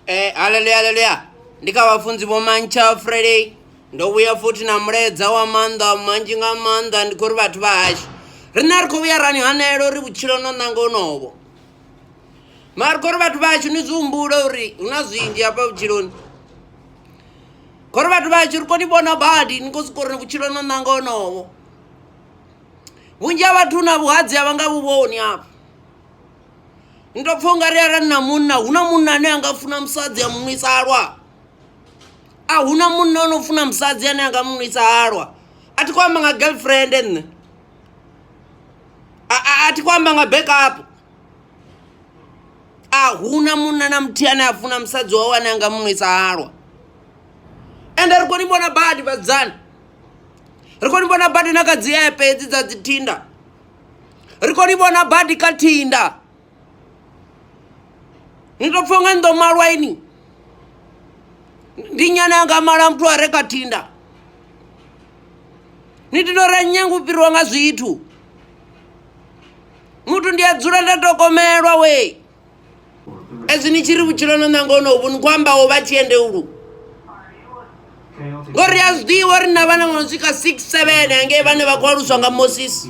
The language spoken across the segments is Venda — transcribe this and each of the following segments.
Eh, haleluya haleluya ndi kha vhafunzi vho mantsha friday ndo vhuya futhi na mulaedza wa maanḓa manzhi nga maanḓa ndi khou ri vhathu vha hashu riṋe ri khou vhuya rani hanela uri vhutshilo no ṋanga onovo mara ri khou ri vhathu vha hashu ni zwi humbula uri hu na zwinzhi hafha vhutshiloni khou ri vhathu vha hashu ri koni vhona badi ni khou siko uri vhutshilo no ṋanga onovo vhunzhi ha vhathu na vhuhadzi a vha nga vhu vhoni afho ni to pfha ungari arali na munna huna munna ane anga funa musadzi a munwisa halwa a huna munna ono funa musadzi ane anga munwisa halwa a thi khou amba nga girlfriend nṋe a thi khou amba nga backup a huna munna na muthihi ane a funa musadzi wawe ane anga munwisa halwa ende ri khou ni vhona badi vhadzana ri khou ni vhona badi na kha dzi epe hedzi dza dzi tinder ri khou ni vhona badi kha thinda ni tou pfha nga ni ḓo malwa ini ndi nyana yanga mala muthu a re kha thinda ni tito ra nyanga u fhiriwa nga zwithu muthu ndi a dzula nda tokomelwa wee ezwi ni tshi ri vhutshilo no nanga ono vhu ni khou ambaho vha tshiende ulu ngori a zwiḓivha uri na vhana vhono swika six seven hangei vhane vha khou aluswa nga moses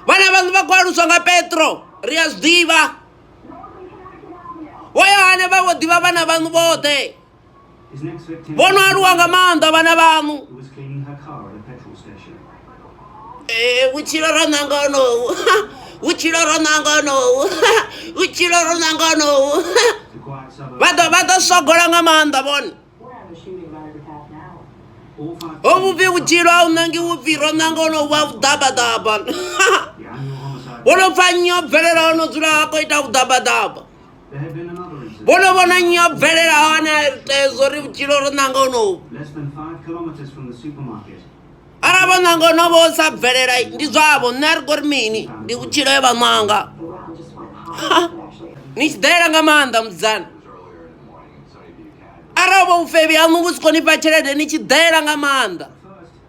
vhana vhaṋu vha khou aluswa nga petro ri a zwiḓivha vho yohane vha vho ḓivha vhana vhaṋu vhoṱhe vhono aluwa nga maanḓa vhana vhaṋu eh, vhutshilo ro ṋanga onowu vhutshilo ro ṋanga onowu vhutshilo ro ṋanga onowu vha ḓo vha ḓo sogola nga maanḓa vhone ho vhupfi vhutshilo a u ṋangi vhupfi ro ṋanga ono vha vhuḓabaḓaba wo no pfa nnyi o bvelela o no dzula a khou ita vhuḓabaḓaba vho no vhona nnyi yo bvelela hone hezwo ri vhutshilo ro ṋanga onovu arali vho ṋanga onovo o sa bvelela ndi zwavho nṋe a ri kori mini ndi vhutshilo ye vha ṋanga ni tshi ḓela nga maanḓa musidzana arali vho vhufebi haṋu vhu si kho ni fha tshelede ni tshi ḓela nga maanḓa